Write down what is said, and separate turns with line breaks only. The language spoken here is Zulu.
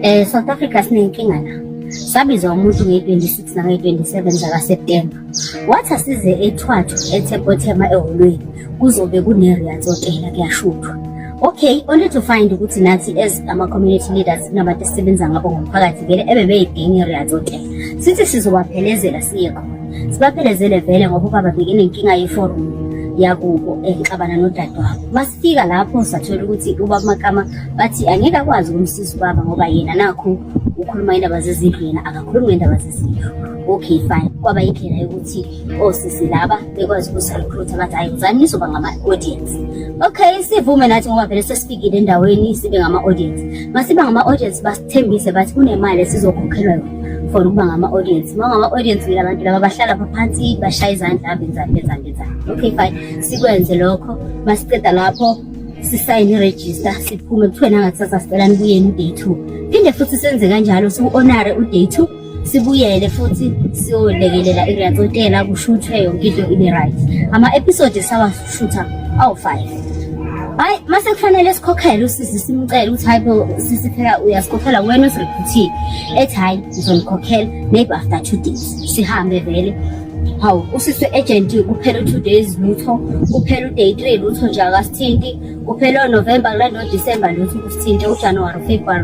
Eh South Africa sinenkinga la. Sabiza umuntu nge-26 nange-27 zakaSeptember. Wathi asize ethwathu eThepothema eholweni kuzobe kune-Riats Hotel kuyashuthwa. Okay, only to find ukuthi nathi as ama-community leaders kunabantu esisebenza ngabo ngomphakathi vele ebebeyidinga i-Riats Hotel. Sithi sizobaphelezela siye khona. Sibaphelezele vele ngoba ubaba bekenenkinga yeforum yakubo enxabana nodadewabo. Fika lapho sathola ukuthi ubaba Makama bathi angeke akwazi ukumsiza ubaba ngoba yena nakho ukhuluma indaba zezindlu yena akakhulumi ngendaba zezindlu okay fine kwaba indlela yokuthi osisi oh, laba bekwazi ukusirecruit bathi hayi uzani nizoba ngama-audience okay sivume nathi ngoba vele sesifikile endaweni sibe ngama-audience masiba ngama-audience Thembise bathi kunemali esizokhokhelwa yona for ukuba ngama-audience uma ngama-audience wile abantu laba bahlala phaphansi bashaya izandla abenzani benzani benzani okay fine sikwenze lokho masiceda lapho sisayine irejista siphume kuthiwe nangakusasa sicela nibuyeni u-day two phinde futhi senze kanjalo siwu-onare u-day two sibuyele futhi siyolekelela iriyacotela kushuthwe yonke into ibe right ama-episode sawashutha awu-five hayi mase kufanele sikhokhele usisi simcele ukuthi hayi bo sisi phela uyasikhokhela wena usirephuthiye ethi hhayi ngizomkhokhela maybe after two days sihambe vele hawu usisi we-agent kuphela u-two days lutho kuphela u-day three lutho nje akasithinti kuphela onovemba kulanda odisemba lutho kusithinte ujanuwari ufebruwari